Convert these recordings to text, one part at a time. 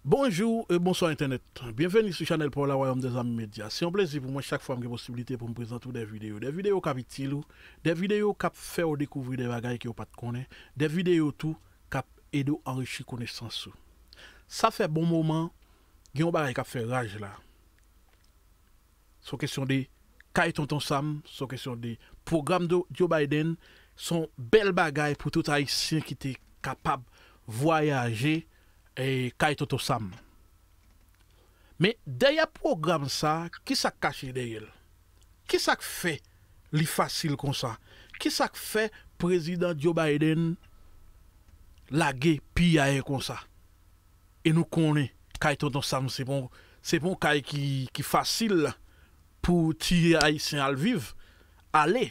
Bonjou e bonswa entènèt! Byenveni sou chanèl paw la Wayòm dè Zanmi Medya. Se yon plezi pou mwen chak fwa m gen posibilite pou m prezante ou dè videyo. Dè videyo k ap itil ou, dè videyo k ap fè ou dekouvri dè bagay ke ou pa t konnen, dè videyo tou k ap ede w anrichi konesans ou. Sa fè bon moman gen yon bagay k ap fè raj la. son kesyon de kay tonton sam, son kesyon de pwogram de Joe Biden, son bèl bagay pou tout ayisyen ki te kapab vwayaje kay tonton sam. Men dèyè pwogram sa kisa k kache dèyè l? Kisa k fè li fasil konsa? Kisa k fè prezidan Joe Biden lage piyaye konsa? e nou konnen kay tonton sam se pon se pon kay ki ki fasil pou ti ayisyen al viv ale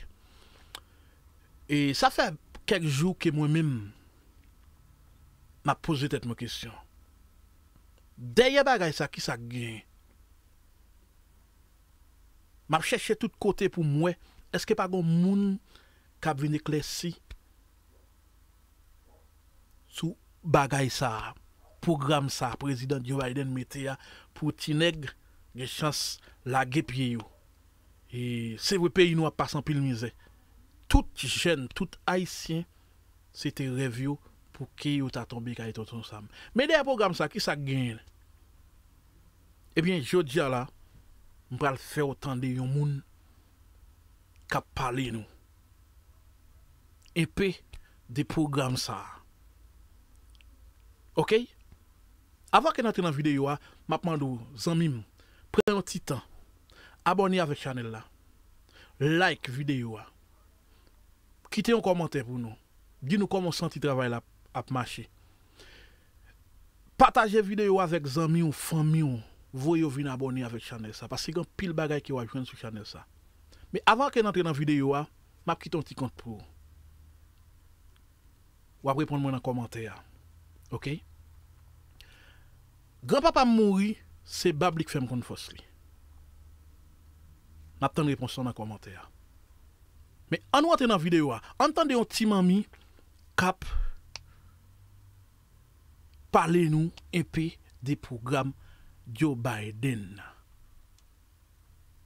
e sa fè kèk jou ke mwen menm map poze tèt mwen kesyon dèyè bagay sa kisa k gen map chèche tout kote poum wè eske pa gon moun kap vin eklèsi. sou bagay sa a, pwogram sa a Prezidan Joe Biden mete a pou ti nèg gen chans lage pye yo. E se vre peyi nou ap pase anpil mizè. Tout jèn, tout Ayisyen se te rèv yo pou ke yo ta tonbe kay Tonton Sam. Men dèyè pwogram sa a ki sa k genyen? Ebyen jodi a la m pral fè w tande yon moun k ap pale nou. enpe de pwogram sa a ok avan ke n antre nan videyo a map mande w zanmi m pran yon ti tan abòne avèk chanèl la like videyo a kite yon kòmantè pou nou di nou kòman w santi travay la ap mache Pataje video avèk zanmiw fanmiw voye yo vin abòne avèk chanèl sa paske gen anpil bagay ke wap jwenn sou chanèl sa men avan ke n antre nan video a map kite yon ti kont pou ou wap reponn mwen nan kòmantè a ok gran papam mouri se bab li k fèm konn fòs li map tann repons lan nan kòmantè a men annou antre nan video a ann tande yon ti manmi kap pale nou enpe de pwogram Joe Biden nan.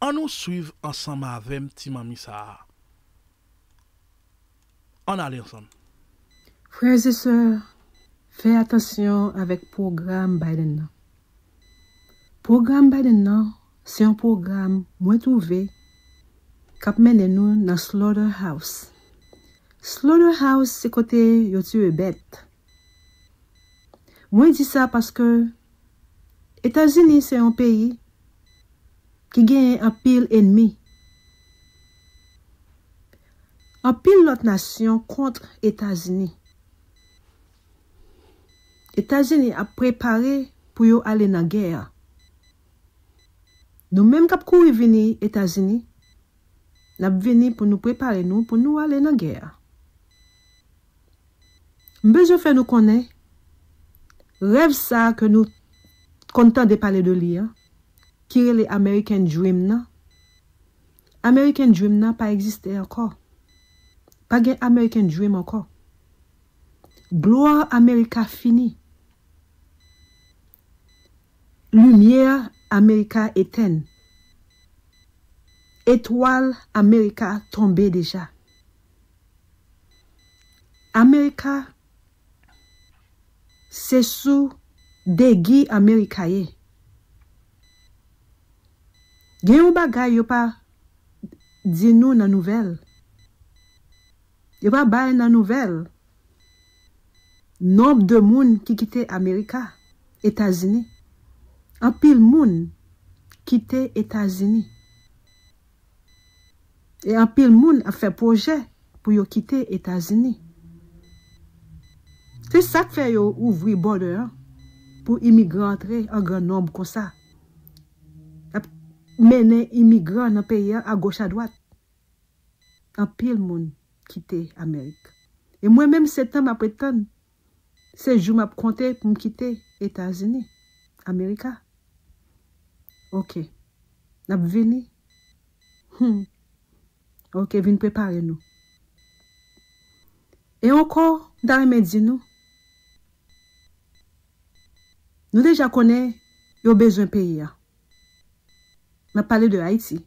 An nou swiv ansanm avè m ti manmi sa a. An n ale ansanm. Frères et sœurs, fè atansyon avèk pwogram Biden nan. Pwogram Biden nan Se yon pwogram mwen twouve k ap mennen nou nan slaughter house. Slaughter house se kote yo tiye bèt. Mwen di sa paske Etazini se yon peyi ki genyen anpil enmi. Anpil lòt nasyon kontr Etazini. Etazini ap prepare pou yo ale nan gè. Nou menm k ap kouri vini Etazini, n ap vini pou nou prepare nou pou nou ale nan gè a. M bezwen fè nou konnen, rèv sa a ke nou konn tande pale de li an, ki rele American Dream nan, American Dream nan pa egziste ankò. Pa gen American Dream ankò. Glwa Amerika fini. Limyè Amerika etenn. Etwal Amerika tonbe deja. Amerika se sou degi Amerika ye. Gen yon bagay yo pa di nou nan nouvèl. Yo pa bay nan nouvèl nonb de moun ki kite America, Etazini. Anpil moun kite Etazini. E anpil moun ap fè pwojè pou yo kite Etazini. Se sak fè yo ouvri border an pou imigran antre an gran nonb konsa. Yap mennen imigran nan peyi an a goch a dwat. anpil moun kite amerik e mwen menm se tan map ret tann se jou map konte poum kite etazini amerika ok nap vini humm ok vin prepare nou e ankò m ta renmen di nou nou deja konnen yo bezwen peyi a map pale de ayiti.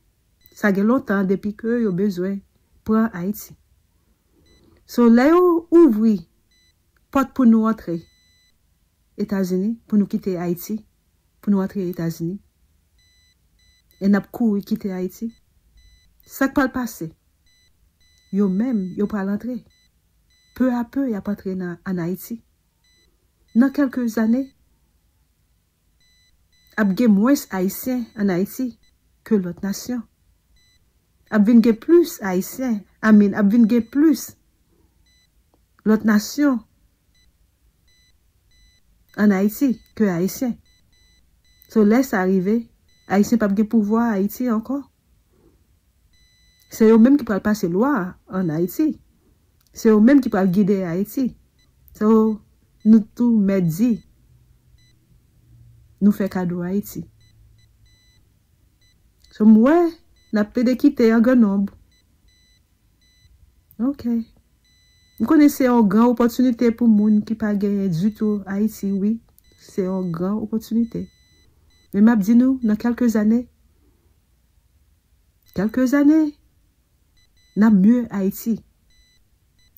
Sa gen lontan depi ke yo bezwen pran Haiti. So lè yo ouvri pot pou nou antre Etazini, pou nou kite Haiti, pou nou antre Etazini, e nap kouri kite Haiti, sak pral pase? Yo menm yo pral antre. Peu a peu yap antre nan an Haiti. Nan kelke zane. Ap gen mwens Ayisyen an Ayiti ke lòt nasyon. Ap vin gen plis Ayisyen, I mean, ap vin gen plis lòt nasyon an Ayiti ke Ayisyen. So lè sa rive, Ayisyen pap gen pouvwa Ayiti ankò. Se yo menm ki pral pase lwa an Ayiti. Se yo menm ki pral gide Ayiti. So, nou tou mèt di, nou fè kado Ayiti. So, m wè, n ap plede kite an gran nonb. Ok. M konnen se yon gran opòtinite pou moun ki pa genyen ditou Ayiti wi. Se yon gran opòtinite. Men m ap di nou nan kèlke zane, kèlke zane, n ap mye Ayiti.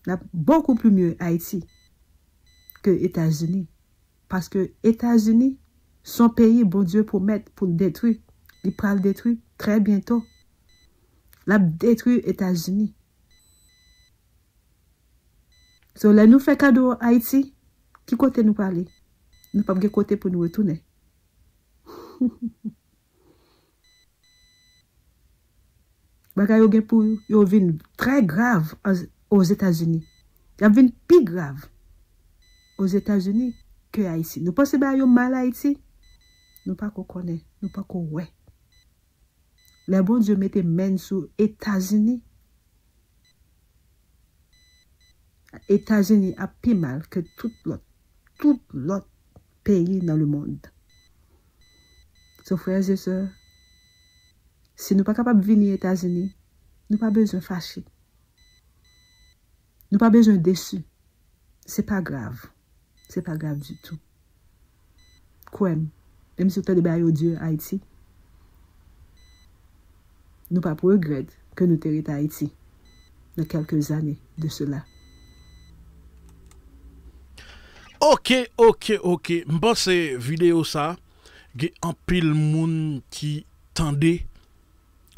N ap bokou pli mye Ayiti ke Etazini. Paske Etazini s on peyi Bondye pwomèt pou l detwi. Li pral detwi trè byento. Lap detwi etazini. So lè nou fè kado ayiti ki kote nou prale nou pap gen kote pou nou retounen. Bagay yo gen pou yo vin trè grav ozetazini. Yap vin pi grav ozetazini ke ayiti. Nou panse bagay yo mal ayiti nou pako konnen nou pako wè. Lè Bondye mete menn sou etazini etazini ap pi mal ke tout lòt tout lòt peyi nan lemond so frè ze sè si nou pa kapab vini etazini nou pa bezwen fache. Nou pa bezwen desi. Se pa grav. Se pa grav ditou. Kwè m. Menm si w tande bagay yo di Ayiti, nou p ap regrèt ke nou te ret Ayiti nan kèlke zane de sela. Ok ok ok m panse video sa gen anpil moun ki tande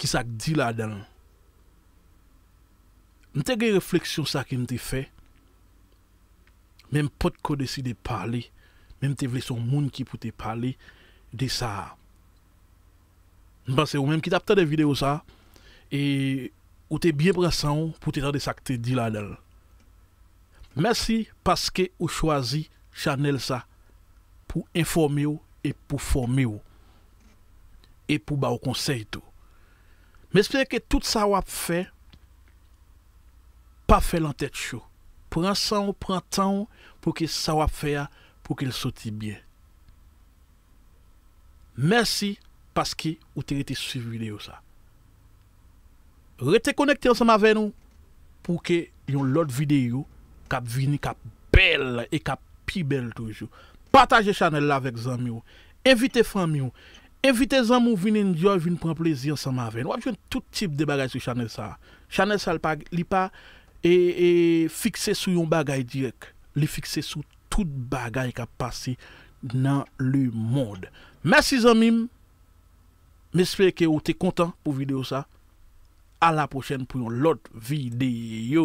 ki sak di ladanl. M te gen refleksyon sa ke m te fè, men m pot ko deside pale, men m te vle se yon moun ki pou te pale de sa a. M panse ou menm ki t ap tande videyo sa a, e ou te byen pran san ou pou te tande sa k te di ladan l. Mèsi paske ou chwazi chanèl sa pou enfòme w e pou fòme w, e pou ba w konsèy tou. M espere ke tout sa w ap fè pa fè lan tèt cho. Pran san w, pran tan w pou ke sa w ap fè a pou ke l soti byen. Mèsi paske ou te rete swiv videyo sa. Rete konekte ansanm avè nou pou ke yon lòt videyo k ap vini k ap bèl e k ap pi bèl toujou. Pataje chanèl la avèk zanmi w, envite fanmi w, Envite zanmi w vin enjoy vin pran plezi ansanm avè n wap jwenn tout tip de bagay sou chanèl sa chanèl sa li pa li pa fikse sou yon bagay dirèk li fikse sou tout bagay kap pase nan le mond mèsi zanmi m m espere ke ou te kontan pou video sa a la pwochèn pou yon lòt video.